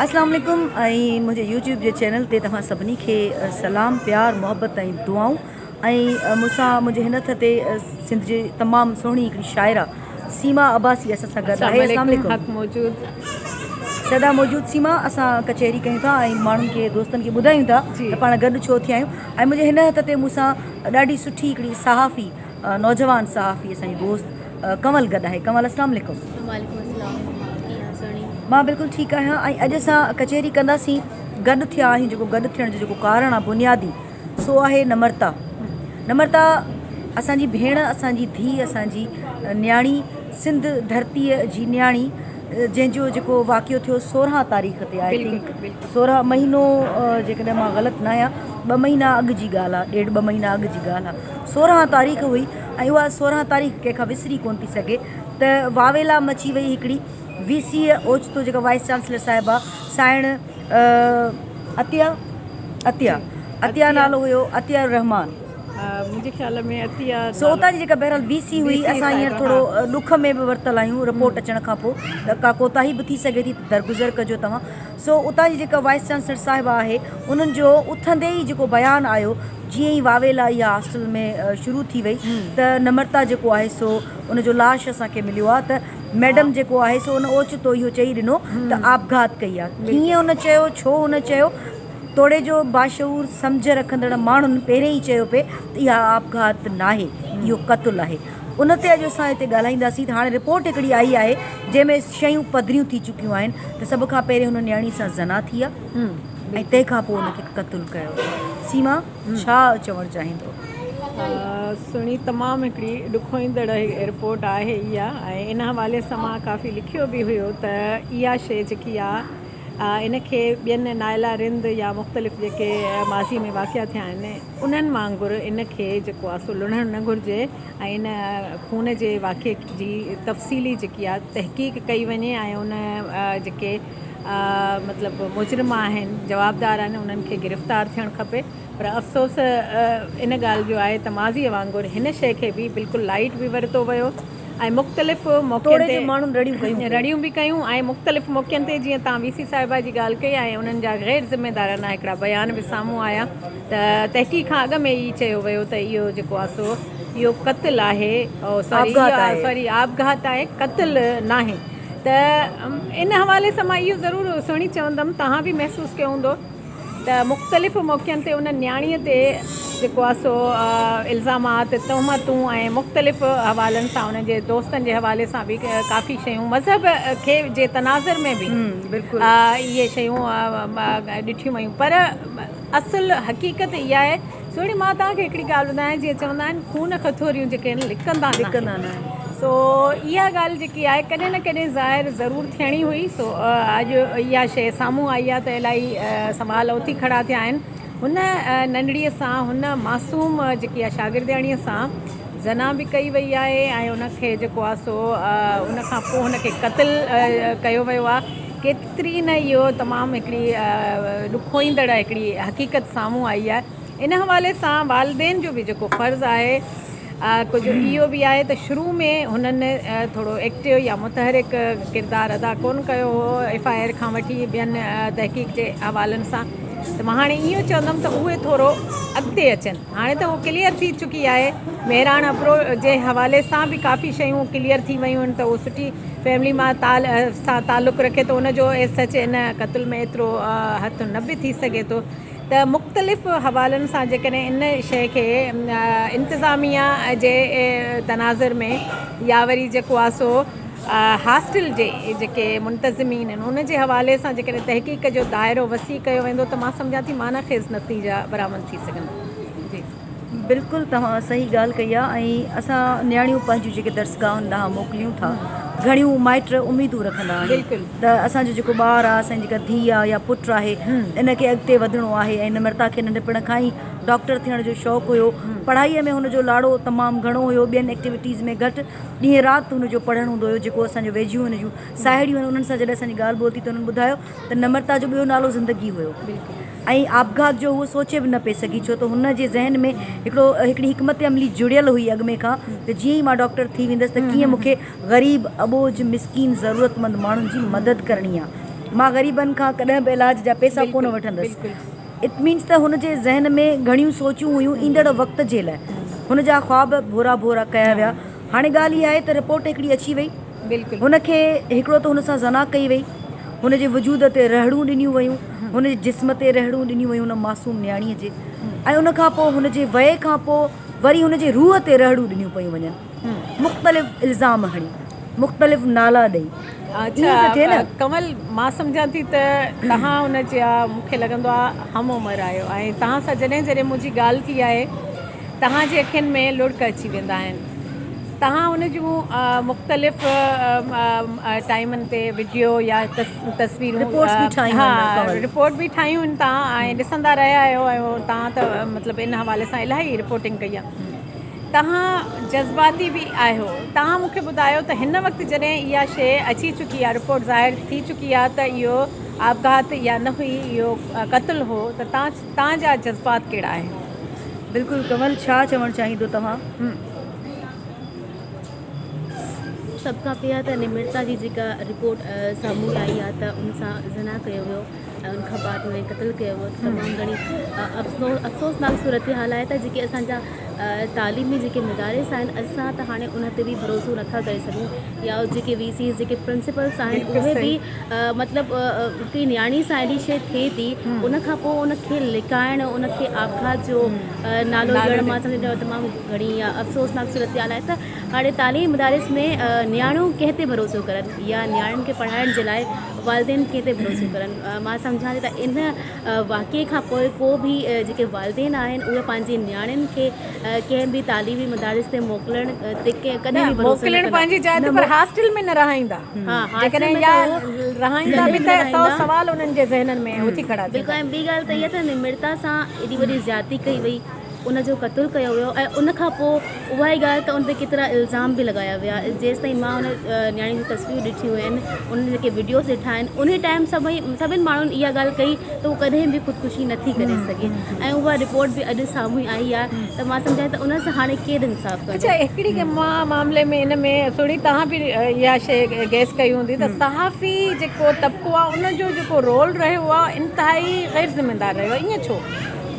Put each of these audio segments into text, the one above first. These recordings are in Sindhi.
اسلام عليڪم ۽ منهنجي يوٽيوب جي چينل تي توهان سڀني کي سلام پيار محبت ۽ دعائون ۽ مون سان منهنجي هن هٿ تي سنڌ جي تمام سهڻي هڪڙي شاعره سيما عباسي اسان سان گڏ آهي اسلام عليڪم موجود سدا موجود سيما اسان ڪچهري ڪيون ٿا ۽ ماڻهن کي دوستن کي ٻڌايون ٿا ته پاڻ گڏ ڇو ٿيا آهيون ۽ منهنجي هن هٿ تي مون سان ڏاڍي سٺي هڪڙي صحافي نوجوان صحافي اسانجي دوست ڪنول گڏ آهي ڪنول اسلام عليڪم. وعليڪم اسلام ڪيئن آهيو سهڻي. مان بلڪل ٺيڪ آهيان ۽ اڄ اسان ڪچهري ڪنداسين گڏ ٿيا آهيون جيڪو گڏ ٿيڻ جو جيڪو ڪارڻ آهي بنيادي سو آهي نمرتا نمرتا اسانجي ڀيڻ اسانجي ڌي اسانجي نياڻي سنڌ ڌرتي جي نياڻي جنهن جو جيڪو واقعو ٿيو سورهان تاريخ تي آهي سورهان مهينو جيڪڏهن مان غلط نه آهيان ٻه مهينا اڳ جي ڳالهه آهي ڏيڍ ٻه مهينا اڳ جي ڳالهه آهي سورهن تاريخ هئي ۽ اها سورهن تاريخ ڪنهن کان وسري ڪونه پئي سگهي ته واويلا مچي وئي هڪڙي وي سي اوچتو جيڪا وائيس چانسلر صاحبه سائڻ عطيه عطيه عطيه نالو هيو عطيه الرحمان منهنجي خيال ۾ عطيه سو اتان جي جيڪا بهرحال وي سي هئي اسان هينئر ٿورو ڏک ۾ به ورتل آهيون رپورٽ اچڻ کان پوء ته ڪا ڪوتاهي به ٿي سگهي ٿي ته درگذر ڪجو توهان سو اتان جي جيڪا وائيس چانسلر صاحبه آهي انهن جو اٿندي ئي جيڪو بيان آيو جيئن ئي واويلا اها هاسٽل ۾ شروع ٿي وئي ته نمرتا جيڪو آهي سو ان جو لاش اسان کي مليو آهي ته ميڊم جيڪو آهي سو ان اوچتو اهو چئي ڏنو ته آپگهات ڪئي آهي ڪيئن ان چيو ڇو ان چيو توڙي جو باشعور سمجهه رکندڙ ماڻهن پهرين ئي چيو پئي ته اها آپگهات ناهي اهو قتل آهي. ان تي اڄ اسان هتي ڳالهائينداسين ته هاڻي رپورٽ هڪڙي آئي آهي جنهن ۾ شيون پڌريون ٿي چڪيون آهن ته سڀ کان پهرين هن نياڻي سان زنا ٿي آهي ۽ تنهن کان پوء ان کي قتل ڪيو ويو آهي سيما ڇا چوڻ چاهيندو. سھڻي تمام ھڪڙي ڏکوئيندڙ رپورٽ آھي اھا ۽ ان حوالي سان مان ڪافي لکيو به ھيو ته اھا شيء جيڪي آ ان کي ٻين نائلا رند يا مختلف جيڪي ماضي ۾ واقعا ٿيا آھن انهن وانگر ان کي جيڪو آسو لڻڻ نه گهرجي ۽ ان خون جي واقعي جي تفصيلي جيڪي آ تحقيق ڪئي وڃي ۽ ان جيڪي مطلب مجرم آهن جوابدار آهن انهن کي گرفتار ٿيڻ کپي پر افسوس ان ڳالهه جو آهي ته ماضي وانگر هن شئي کي به بلڪل لائيٽ به ورتو ويو ۽ مختلف موقعن تي رڙيون به ڪيون ۽ مختلف موقعن تي جيئن توهان وي سي صاحبه جي ڳالهه ڪئي ۽ انهن جا غير ذميدارانه هڪڙا بيان به سامهون آيا ته تحقيق کان اڳ ۾ ئي چيو ويو ته اهو جيڪو آ سو اهو قتل آهي سوري آپگهات آهي قتل ناهي ته ان حوالي سان مان اهو ضرور سهڻي چوندم توهان به محسوس ڪيو هوندو ته مختلف موقعن تي ان نياڻيء تي جيڪو آهي سو الزامات، تهمتون ۽ مختلف حوالن سان ان جي دوستن جي حوالي سان به ڪافي شيون مذهب کي جي تناظر ۾ به اهي شيون ڏٺيون ويون پر اصل حقيقت اها آهي سهڻي مان توهان کي هڪڙي ڳالهه ٻڌايان جيئن چوندا آهن خون کٿوريون جيڪي آهن لڪندا لڪندا نه آهن سو اها ڳالهه جيڪي آهي ڪڏهن نه ڪڏهن ظاهر ضرور ٿيڻي هئي سو اڄ اها شيء سامهون آئي آهي ته الائي سوال اٿي کڙا ٿيا آهن هن ننڍڙي سان هن معصوم جيڪي آهي شاگردياڻي سان زنا به ڪئي وئي آهي ۽ ان کي جيڪو آهي سو ان کان پوء هن کي قتل ڪيو ويو آهي بھترين نه اھو تمام ھڪڙي ڏکوئيندڙ ھڪڙي حقيقت سامھون آئي آھي ان حوالي سان والدين جو به جيڪو فرض آھي ڪجھ اھو به آھي ته شروع ۾ ھنن ٿورو ايڪٽو يا متحرڪ ڪردار ادا ڪون ڪيو ھو ايف آء آر کان وٺي ٻين تحقيق جي حوالن سان ته مان ھاڻي اھو چوندم ته اھي ٿورو اڳتي اچن. هاڻي ته هو ڪليئر ٿي چڪي آهي مهراڻ ابڙو جي حوالي سان به ڪافي شيون ڪليئر ٿي ويون آهن ته هو سٺي فيملي مان سان تعلق رکي ٿو ان جو ايس ايچ ان قتل ۾ ايترو هٿ نه به ٿي سگهي ٿو ته مختلف حوالن سان جيڪڏهن ان شيء کي انتظاميا جي تناظر ۾ يا وري جيڪو آهي سو هاسٽل جي جيڪي منتظمين آهن ان جي حوالي سان جيڪڏهن تحقيق جو دائرو وسيع ڪيو ويندو ته مان سمجهان ٿي معنيٰ خيز نتيجا برآمد ٿيندا بلڪل توهان صحيح ڳالهه ڪئي آهي ۽ اسان نياڻيون پنهنجون جيڪي درسگاهن ڏانهن موڪليون ٿا گهڻيون مائٽ اميدون رکندا آهن ته اسان جو جيڪو ٻار آهي اسان جي جيڪا ڌيء آهي يا پٽ آهي ان کي اڳتي وڌڻو آهي ۽ نمرتا کي ننڍپڻ کان ئي ڊاڪٽر ٿيڻ جو شوق هيو پڙهائي ۾ هن جو لاڙو تمام گهڻو هيو ٻين ايڪٽيوٽيز ۾ گهٽ ڏينهن رات هن جو پڙهڻ هوندو هيو جيڪو اسان جو ويجهيون هن جون ساهيڙيون آهن انهن سان جڏهن اسان جي ڳالهه ٻولهه ٿي ته انهن ٻڌايو ته نمرتا جو ٻيو نالو زندگي هيو ۽ آپگهات جو هوء سوچي به نه پئي سگهي ڇو ته هن جي ذهن ۾ هڪڙو هڪڙي حڪمت عملي جڙيل هئي اڳ ۾ کان ته جيئن ئي مان ڊاڪٽر ٿي ويندس ته ڪيئن مون کي غريب، اٻوجهه، مسڪين، ضرورتمند ماڻهن جي مدد ڪرڻي آ. مان غريبن کان ڪڏهن به علاج جا پئسا ڪونه وٺندس. It means ته هن جي ذهن ۾ گهڻيون سوچون هيون ايندڙ وقت جي لاء. هن جا خواب ڀورا ڀورا ڪيا ويا. هاڻي ڳالهه اها آهي ته رپورٽ هڪڙي اچي وئي. هن کي هڪڙو ته هن سان زنا ڪئي وئي، هن جي وجود تي رهڙون ڏنيون ويون، هن جي جسم تي رهڙون ڏنيون ويون ان معصوم نياڻيء جي ۽ ان کان پوء هن جي وئي کان پوء وري هن جي روح تي رهڙون ڏنيون پيون وڃن. مختلف الزام هڻي، مختلف نالا ڏئي. ايئن ته ٿئي نه. ڪنول، مان سمجهان ٿي ته توهان ان جا مون کي لڳندو آهي همعمر آهيو ۽ توهان سان جڏهن جڏهن منهنجي ڳالهه ٿي آهي، توهان جي اکين ۾ لڙڪ اچي ويندا آهن توهان ان جون مختلف ٽائيمن تي وڊيو يا تصويرون رپورٽ به ٺاهيون آهن توهان ڏسندا رهيا آهيو ۽ توهان ته مطلب ان حوالي سان الاهي رپورٽنگ ڪئي آهي توهان جذباتي به آهيو توهان مونکي ٻڌايو ته هن وقت جڏهن اها شيء اچي چڪي آهي رپورٽ ظاهر ٿي چڪي آهي ته اهو آپگهات يا نه هئي اهو قتل هو ته توهان توهان جا جذبات ڪهڙا آهن؟ بلڪل ڪنول ڇا چوڻ چاهين دو توهان؟ سڀ کان پهريان ته نمرتا جي جيڪا رپورٽ سامهون آئي آهي ته ان سان زنا ڪيو ويو ۽ ان کان بعد ان کي قتل ڪيو ويو تمام گهڻي افسوس افسوسناڪ صورتحال آهي ته جيڪي اسان جا تعليمي جيڪي مدارس آهن اسان ته هاڻي ان تي به ڀروسو نٿا ڪري سگهون يا جيڪي وي سيز جيڪي پرنسپلس آهن اهي به مطلب ڪي نياڻي سان اهڙي شي ٿئي ٿي ان کان پوء ان کي لڪائڻ ان کي آپگهات جو نالو ڏيڻ مان سمجهندو تمام گهڻي يا افسوسناڪ صورتحال آهي ته هاڻي تعليم مدارس ۾ نياڻيون ڪنهن تي ڀروسو ڪرن يا نياڻين کي پڙهائڻ جي لاء والدين ڪنهن تي ڀروسو ڪرن مان سمجهان ٿي ته ان واقعي کان پوء ڪو به جيڪي والدين آهن اهي پنهنجي نياڻين کي ڪنهن به تعليمي مدارس تي موڪلڻ تي ڪڏهن به ڀروسو نه ڪندا. موڪلڻ پنهنجي جاء تي پر هاسٽل ۾ نه رهائيندا. جيڪڏهن يا رهائيندا به ته سؤ سوال انهن جي ذهنن ۾ اٿي کڙا ٿيندا. بلڪل ۽ ٻي ڳالهه ته اها ته نمرتا سان ايڏي وڏي زيادتي ڪئي وئي. ان جو قتل ڪيو ويو ۽ ان کان پوء اها ئي ڳالهه ته ان تي ڪيترا الزام به لڳايا ويا جيستائين مان ان نياڻي جون تصويرون ڏٺيون آهن ان جا جيڪي وڊيوز ڏٺا آهن انهي ٽائيم سڀئي سڀني ماڻهن اها ڳالهه ڪئي ته هو ڪڏهن به خودڪشي نه ٿي ڪري سگهي ۽ اها رپورٽ به اڄ سامهون آئي آهي ته مان سمجهان ته ان سان هاڻي ڪير انصاف ڪندو. اڇا هڪڙي ڳالهه مان معاملي ۾ ان ۾ سهڻي توهان به اها شئي گيس ڪئي هوندي ته صحافي جيڪو طبقو آهي ان جو جيڪو رول رهيو آهي انتهائي غير ذميدار رهيو آهي ائين ڇو؟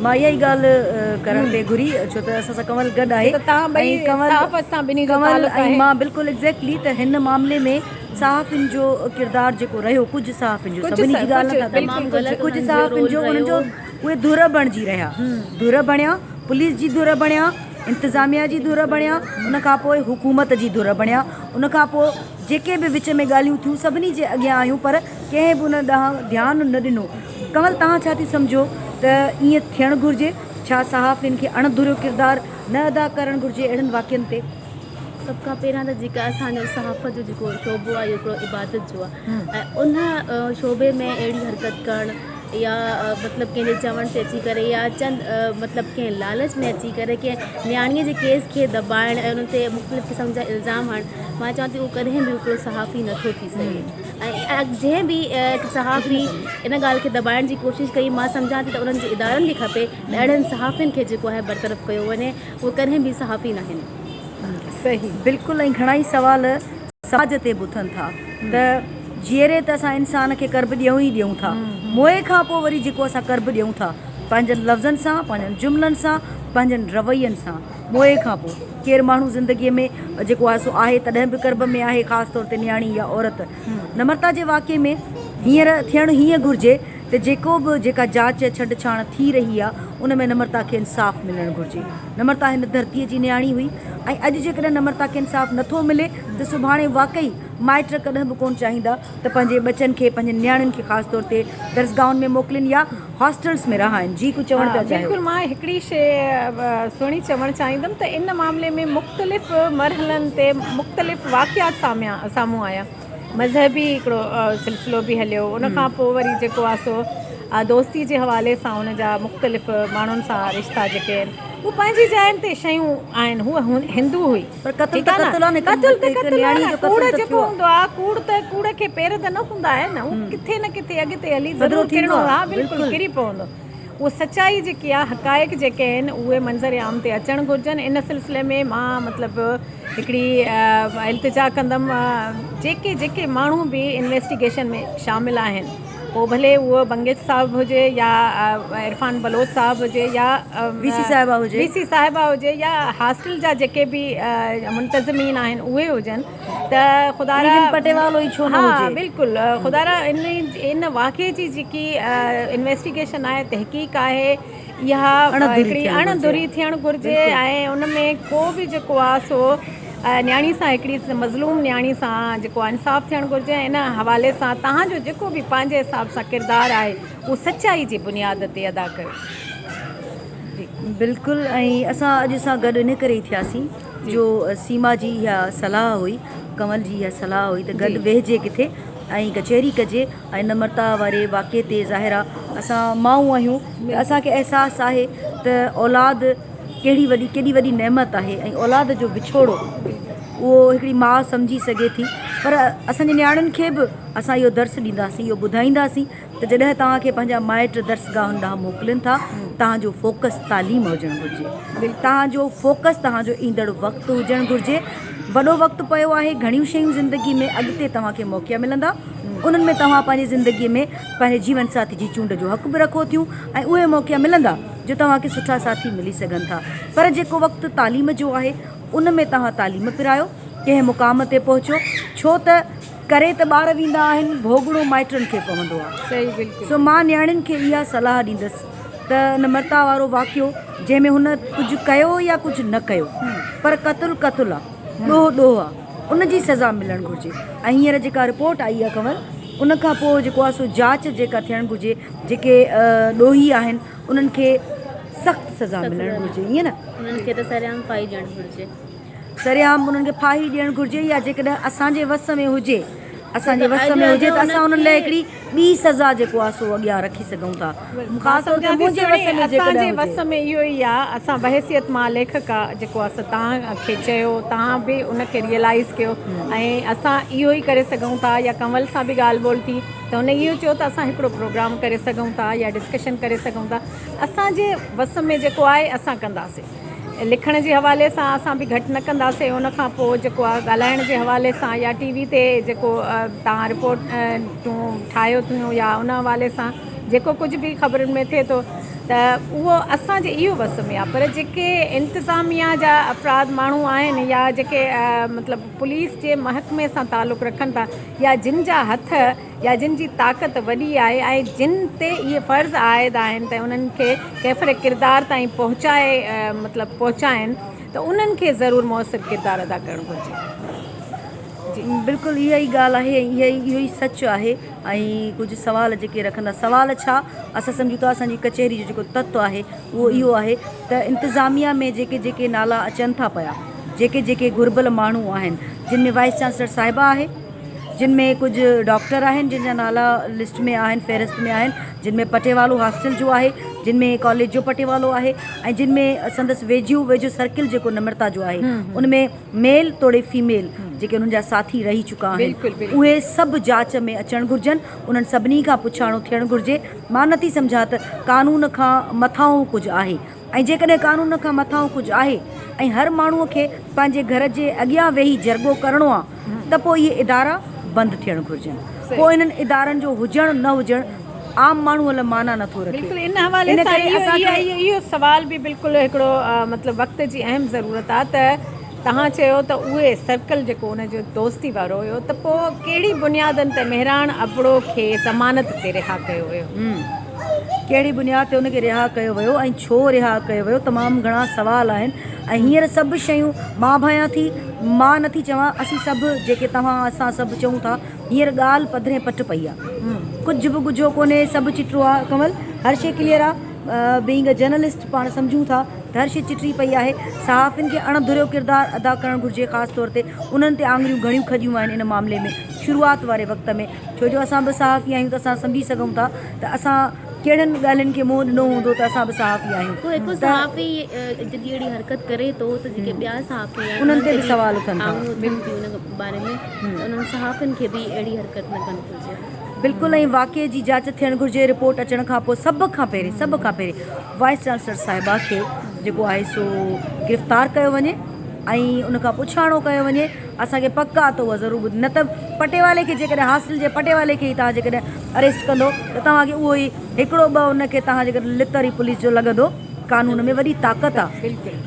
مان اها ئي ڳالهه ڪرڻ پئي گهري ڇو ته اسان سان ڪنول گڏ آهي ته توهان ٻئي صحافت سان ٻنهي جو تعلق آهي. ڪنول ۽ مان بلڪل ايگزيڪٽلي ته هن معاملي ۾ صحافين جو ڪردار جيڪو رهيو ڪجهه صحافين جو سڀني جي ڳالهه نه ٿا ڪريون ڪجهه صحافين جو انهن جو اهي ڌر بڻجي رهيا ڌر بڻيا پوليس جي ڌر بڻيا انتظاميا جي ڌر بڻيا ان کان پوء حڪومت جي ڌر بڻيا ان کان پوء جيڪي به وچ ۾ ڳالهيون ٿيون سڀني جي اڳيان آيون پر ڪنهن به ان ڏانهن ڌيان نه ڏنو ڪنول توهان ڇا ٿي سمجهو ته ائين ٿيڻ گهرجي؟ ڇا صحافين کي اڻ ڌريو ڪردار نه ادا ڪرڻ گهرجي اهڙن واقعن تي؟ سڀ کان پهريان ته جيڪا اسان جو صحافت جو جيڪو شعبو آهي اهو هڪڙو عبادت جو آهي ۽ ان شعبي ۾ اهڙي حرڪت ڪرڻ يا مطلب ڪنهن جي چوڻ تي اچي ڪري يا چند مطلب ڪنهن لالچ ۾ اچي ڪري ڪنهن نياڻيء جي ڪيس کي دٻائڻ ۽ ان تي مختلف قسم جا الزام هڻڻ مان چوان ٿي اهو ڪڏهن به هڪڙو صحافي نٿو ٿي سگهي ۽ جنهن به صحافي ان ڳالهه کي دٻائڻ جي ڪوشش ڪئي مان سمجهان ٿي ته انهن جي ادارن کي کپي ته اهڙن صحافين کي جيڪو آهي برطرف ڪيو وڃي اهي ڪڏهن به صحافي ناهن. صحيح بلڪل ۽ گهڻائي سوال سماج تي به اٿن ٿا ته جيئري ته اسان انسان کي قرب ڏيون ئي ڏيون ٿا موئي کان پوء وري جيڪو اسان قرب ڏيون ٿا پنهنجن لفظن سان پنهنجن جملن سان پنهنجن روين سان موئي کان پوء ڪير ماڻهو زندگيء ۾ جيڪو آهي سو آهي تڏهن به ڪرب ۾ آهي خاص طور تي نياڻي يا عورت. نمرتا جي واقعي ۾ هينئر ٿيڻ هيئن گهرجي ته جيڪو به جيڪا جاچ يا ڇنڊ ڇاڻ ٿي رهي آهي ان ۾ نمرتا کي انصاف ملڻ گهرجي. نمرتا هن ڌرتيء جي نياڻي هئي ۽ اڄ جيڪڏهن نمرتا کي انصاف نٿو ملي ته سڀاڻي واقعي مائٽ ڪڏهن به ڪونه چاهيندا ته پنهنجي ٻچن کي پنهنجن نياڻين کي خاص طور تي درسگاهن ۾ موڪلين يا هاسٽلس ۾ رهائن جي ڪجهه چوڻ پيا چاهيو. بلڪل مان هڪڙي شي سهڻي چوڻ چاهيندم ته ان معاملي ۾ مختلف مرحلن تي مختلف واقعات سامهون آيا مذهبي هڪڙو سلسلو به هليو ان کان پوء وري جيڪو آ سو دوستي جي حوالي سان ان جا مختلف ماڻهن سان رشتا جيڪي آهن هو پنهنجي جاين تي شيون آهن هو هندو هئي پر قتل ته قتل آ نه، هڪ قتل ته قتل آ نه، ڪوڙ جيڪو هوندو آ، ڪوڙ ته ڪوڙ کي پير ته نه هوندا آهن نه، هو ڪٿي نه ڪٿي اڳتي هلي ضرور ڪرڻو آ، ها بلڪل ڪري پوندو، اهو سچائي جيڪي آ، حقائق جيڪي آهن اهي منظر عام تي اچڻ گهرجن، ان سلسلي ۾ مان مطلب هڪڙي التجا ڪندم جيڪي جيڪي ماڻهو به انويسٽيگيشن ۾ شامل آهن. پوء ڀلي اهو بنگش صاحب هجي يا عرفان بلوچ صاحب هجي يا وي سي صاحبه هجي وي سي صاحبه هجي يا هاسٽل جا جيڪي به منتظمين آهن اهي هجن ته خدا را پٽيوالو ئي ڇو نه هجي ها بلڪل خدا را ان واقعي جي جيڪي انويسٽيگيشن آهي تحقيق آهي اها هڪڙي اڻ ڌري ٿيڻ گهرجي ۽ ان ۾ ڪو به جيڪو آ سو نياڻي سان هڪڙي مظلوم نياڻي سان جيڪو آ انصاف ٿيڻ گهرجي ۽ ان حوالي سان تهان جو جيڪو به پنهنجي حساب سان ڪردار آهي اهو سچائي جي بنياد تي ادا ڪيو. بلڪل ۽ اسان اڄ سان گڏ ان ڪري ٿياسين جو سيما جي اها صلاح هئي ڪنول جي اها صلاح هئي ته گڏ ويهجي ڪٿي ۽ ڪچهري ڪجي. ۽ نمرتا واري واقعي تي ظاهرا اسان مائون آهيون ته اسان کي احساس آهي ته اولاد ڪهڙي وڏي ڪيڏي وڏي نعمت آهي ۽ اولاد جو وڇوڙو اهو هڪڙي ماء سمجهي سگهي ٿي پر اسان جي نياڻين کي به اسان اهو درس ڏينداسين اهو ٻڌائينداسين ته جڏهن توهان کي پنهنجا مائٽ درسگاهن ڏانهن موڪلين ٿا توهان جو فوڪس تعليم هجڻ گهرجي توهان جو فوڪس توهان جو ايندڙ وقت هجڻ گهرجي وڏو وقت پيو آهي گهڻيون شيون زندگي ۾ اڳتي توهان کي موقعا ملندا انهن ۾ توهان پنهنجي زندگيء ۾ پنهنجي جيون ساٿي جي چونڊ جو حق به رکو ٿيون ۽ اهي موقعا ملندا جو توهان کي سٺا ساٿي ملي سگهن ٿا پر جيڪو وقت تعليم جو آهي ان ۾ توهان تعليم پرايو ڪنهن مقام تي پهچو ڇو ته ڪري ته ٻار ويندا آهن ڀوڳڻو مائٽن کي پوندو آهي سو مان نياڻين کي اها صلاح ڏيندس ته نمرتا وارو واقعو جنهن ۾ هن ڪجهه ڪيو يا ڪجهه نه ڪيو پر قتل قتل آهي ڏوهه ڏوهه آهي. ان جي سزا ملڻ گهرجي ۽ هينئر جيڪا رپورٽ آئي آهي کنور ان کان پوء جيڪو آهي سو جاچ جيڪا ٿيڻ گهرجي جيڪي ڏوهي آهن انهن کي سخت سزا ملڻ گهرجي ائين نه انهن کي ته سرعام ڦاهي ڏيڻ گهرجي. سرعام انهن کي ڦاهي ڏيڻ گهرجي يا جيڪڏهن اسان جي وس ۾ هجي اسان جي وس ۾ هجي ته اسان انهن لاء هڪڙي ٻي سزا جيڪو آ سو اڳيان رکي سگهون ٿا. خاص طور تي منهنجي وس ۾ جيڪڏهن هجي. اسان جي وس ۾ اهو ئي آ. اسان بحيثيت مان ليکڪ آ جيڪو آ سو توهان کي چيو توهان به ان کي ريئلائيز ڪيو ۽ اسان اهو ئي ڪري سگهون ٿا يا ڪنول سان به ڳالهه ٻولهه ٿي ته هن اهو چيو ته اسان هڪڙو پروگرام ڪري سگهون ٿا يا ڊسڪشن ڪري سگهون ٿا. اسان جي وس ۾ جيڪو آهي اسان ڪنداسين. لکڻ جي حوالي سان اسان به گهٽ نه ڪنداسين ان کان پوء جيڪو آهي ڳالهائڻ جي حوالي سان يا ٽي وي تي جيڪو تان رپورٽ تون ٺاهيو ٿيون يا ان حوالي سان جيڪو ڪجهه به خبرن ۾ ٿئي ٿو ته اهو اسانجي اهو وس ۾ آهي پر جيڪي انتظاميا جا افراد ماڻهو آهن يا جيڪي مطلب پوليس جي محڪمي سان تعلق رکن ٿا يا جن جا هٿ يا جن جي طاقت وڏي آهي ۽ جن تي اهي فرض عائد آهن ته انهن کي ڪيفر ڪردار تائين پهچائي مطلب پهچائين ته انهن کي ضرور موثر ڪردار ادا ڪرڻ گهرجي. بلڪل اها ئي ڳالهه آهي ۽ اهي اهو ئي سچ آهي ۽ ڪجهه سوال جيڪي رکندا سوال ڇا اسان سمجهون ٿا اسان جي ڪچهري جو جيڪو تت آهي اهو اهو آهي ته انتظاميه ۾ جيڪي جيڪي نالا اچن ٿا پيا جيڪي جيڪي گهربل ماڻهو آهن جن ۾ وائيس چانسلر صاحبه آهي جن ۾ ڪجهه ڊاڪٽر آهن جن جا نالا لسٽ ۾ آهن فهرست ۾ آهن جن ۾ پٽيوالو هاسٽل جو آهي جن ۾ ڪاليج جو پٽيوالو آهي ۽ جن ۾ سندس ويجهو ويجهو سرڪل جيڪو نمرتا جو آهي ان ۾ ميل توڙي فيميل جيڪي انهن جا ساٿي رهي چڪا آهن اهي سڀ جاچ ۾ اچڻ گهرجن انهن سڀني کان پڇاڻو ٿيڻ گهرجي مان نٿي سمجهان ته قانون کان مٿانهون ڪجهه آهي. ۽ جيڪڏهن قانون کان مٿانهون ڪجهه آهي ۽ هر ماڻهو کي پنهنجي گهر جي اڳيان ويهي جرڳو ڪرڻو آ ته پوء اهي ادارا بند ٿيڻ گهرجن پوء انهن ادارن جو هجڻ نه هجڻ عام ماڻهو لاء معنيٰ نٿو رکي بلڪل ان حوالي سان اهو سوال به بلڪل هڪڙو مطلب وقت جي اهم ضرورت آ ته توهان چيو ته اهي سرڪل جيڪو ان جو دوستي وارو هيو ته پوء ڪهڙي بنيادن تي مهراڻ ابڙو کي ضمانت تي رها ڪيو ويو؟ هم. ڪهڙي بنياد تي ان کي رها ڪيو ويو ۽ ڇو رها ڪيو ويو تمام گهڻا سوال آهن ۽ هينئر سڀ شيون مان ڀانيان ٿي مان نه ٿي چوان اسين سڀ جيڪي توهان اسان سڀ چئون ٿا هينئر ڳالهه پڌري پٽ پئي آهي ڪجهه به ڳجهو ڪونهي سڀ چٽو آهي ڪنول هر شي ڪليئر آهي. بينگ اي جرنلسٽ پاڻ سمجهون ٿا ته هر شيء چٽي پئي آهي. صحافين کي اڻ ڌريو ڪردار ادا ڪرڻ گهرجي خاص طور تي انهن تي آڱريون گهڻيون کڄيون آهن ان معاملي ۾ شروعات واري وقت ۾ ڇو جو اسان به صحافي آهيون ته اسان سمجهي سگهون ٿا ته اسان ڪهڙن ڳالهين کي منهن ڏنو هوندو ته اسان به صحافي آهيون ته انهن تي به سوال اٿن ٿا. بلڪل ائين واقعي جي جاچ ٿيڻ گهرجي رپورٽ اچڻ کان پوء سڀ کان پهرين سڀ کان پهرين وائيس چانسلر صاحبه کي جيڪو آهي سو گرفتار ڪيو وڃي ۽ ان کان پڇاڻو ڪيو وڃي اسانکي پڪ آ ته اها ضرور ٻڌ نه ته پٽيوالي کي جيڪڏهن هاسٽل جي پٽيوالي کي ئي توهان جيڪڏهن اريسٽ ڪندو ته توهانکي اهو ئي هڪڙو ٻه ان کي توهان جيڪڏهن لتر ئي پوليس جو لڳندو قانون ۾ وڏي طاقت آ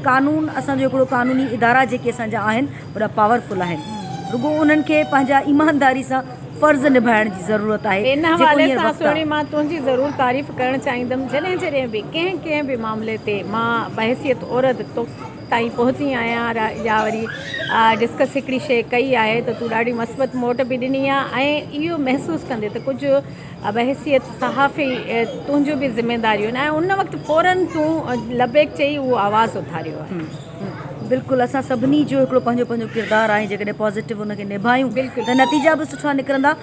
قانون اسانجو هڪڙو قانوني ادارا جيڪي اسانجا آهن وڏا پاورفل آهن رڳو انهن کي پنهنجا ايمانداري سان فرض نڀائڻ جي ضرورت آهي ان حوالي سان سهڻي مان تنهنجي ضرور تعريف ڪرڻ چاهيندم جڏهن جڏهن به ڪنهن ڪنهن به معاملي تي مان بحيثيت عورت تو تائين پهتي آهيان يا وري ڊسڪس هڪڙي شيء ڪئي آهي ته تون ڏاڍي مثبت موٽ به ڏني آهي ۽ اهو محسوس ڪندي ته ڪجهه بحيثيت صحافي تنهنجون به ذميداريون آهن ۽ ان وقت فورن تون لبيڪ چئي اهو آواز اٿاريو آهي بلڪل اسان سڀني جو هڪڙو پنهنجو پنهنجو ڪردار آهي جيڪڏهن پازيٽو ان کي نڀايون ته نتيجا به سٺا نڪرندا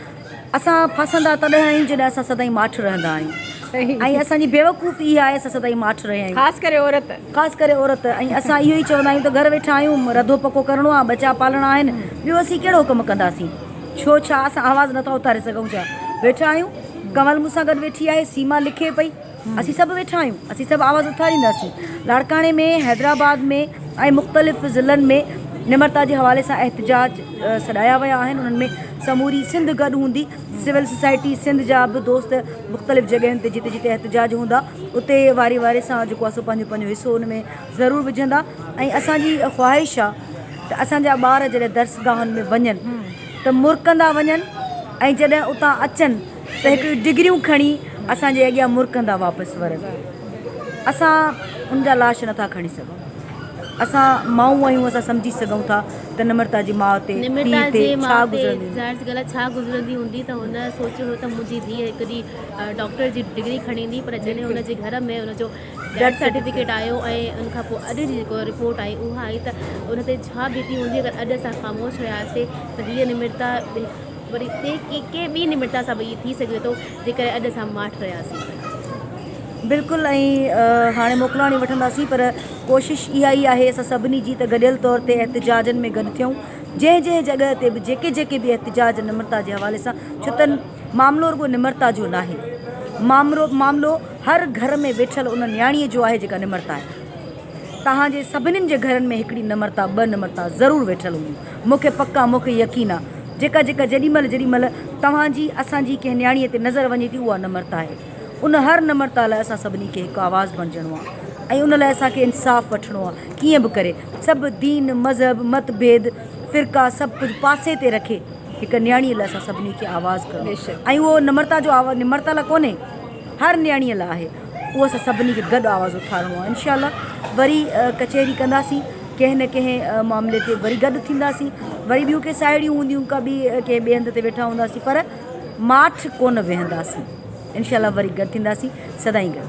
اسان ڦاسندا تڏهن آهيون جڏهن اسان سدائين ماٺ رهندا آهيون ۽ اسان جي بيوقوفي اها آهي اسان سدائين ماٺ رهيا آهيون خاص ڪري عورت خاص ڪري عورت ۽ اسان اهو ئي چوندا آهيون ته گهر ويٺا آهيون رڌو پڪو ڪرڻو آهي ٻچا پالڻا آهن ٻيو اسين ڪهڙو ڪم ڪنداسين ڇو ڇا اسان آواز نٿا اٿاري سگهون ڇا ويٺا آهيون ڪنول مون سان گڏ ويٺي آهي سيما لکي پئي اسين سڀ ويٺا آهيون، اسين سڀ آواز اٿارينداسين، لاڙڪاڻي ۾ حيدرآباد ۾ ۽ مختلف ضلعن ۾ نمرتا جي حوالي سان احتجاج سڏايا ويا آهن انهن ۾ سموري سنڌ گڏ هوندي، سول سوسائٽي سنڌ جا به دوست مختلف جڳهين تي جتي جتي احتجاج هوندا اتي واري واري سان جيڪو آهي سو پنهنجو پنهنجو حصو ان ۾ ضرور وجهندا ۽ اسان جي خواهش آهي ته اسان جا ٻار جڏهن درسگاهن ۾ وڃن ته مرڪندا وڃن ۽ جڏهن اتان اچن ته هڪ ڊگريون کڻي اسان جي اڳيان مرڪندا واپس ورن. اسان ان جا لاش نٿا کڻي سگهون. اسان مائون آهيون اسان سمجهي سگهون ٿا ته نمرتا جي ماء تي، پيء تي ڇا گذرندي هوندي. ڇا گذرندي هوندي ته هن سوچيو هو ته منهنجي ڌيء هڪ ڏينهن ڊاڪٽر جي ڊگري کڻيندي پر جڏهن ان جي گهر ۾ ان جو ڊيٿ سرٽيفڪيٽ آيو ۽ ان کان پوء اڄ جي جيڪا رپورٽ آئي اها آئي ته ان تي ڇا بيتي هوندي اگر اڄ اسان خاموش رهياسين ته هيء نمرتا وري تي ڪي ڪنهن ٻي نمرتا سان به ائين ٿي سگهي ٿو جيڪڏهن اڄ اسان ماٺ رهياسين ته. بلڪل ائين هاڻي موڪلاڻي وٺنداسين پر ڪوشش اها ئي آهي اسان سڀني جي ته گڏيل طور تي احتجاجن ۾ گڏ ٿيون جنهن جنهن جڳهه تي به جيڪي جيڪي به احتجاج نمرتا جي حوالي سان ڇو ته معاملو رڳو نمرتا جو ناهي معاملو هر گهر ۾ ويٺل ان نياڻي جو آهي جيڪا نمرتا آهي. توهان جي سڀنين جي گهرن ۾ هڪڙي نه مرتا ٻه نه مرتا ضرور ويٺل هونديون. مون کي پڪ آ، مون کي يقين آ. جيڪا جيڪا جيڏي مهل جيڏي مهل توهان جي، اسان جي ڪنهن نياڻيء تي نظر وڃي ٿي اها نه مرتا آهي. ان هر نه مرتا لاء اسان سڀني کي هڪ آواز بڻجڻو آ ۽ ان لاء اسان کي انصاف وٺڻو آ. ڪيئن به ڪري سڀ دين، مذهب، مت ڀيد، فرقا سڀ ڪجهه پاسي تي رکي هڪ نياڻيء لاء اسان سڀني کي آواز ڪرڻو آ ۽ اهو نه مرتا جو آواز نه مرتا لاء ڪونهي هر نياڻيء لاء آهي. اهو اسان سڀني کي گڏ آواز اٿارڻو آهي انشاء الله وري ڪچهري ڪنداسين ڪنهن نه ڪنهن معاملي تي وري گڏ ٿينداسين وري ٻيون ڪي ساهيڙيون هونديون ڪا ٻي ڪي ٻئي هنڌ تي ويٺا هونداسين پر ماٺ ڪونه ويهنداسين انشاء الله وري گڏ ٿينداسين سدائين گڏ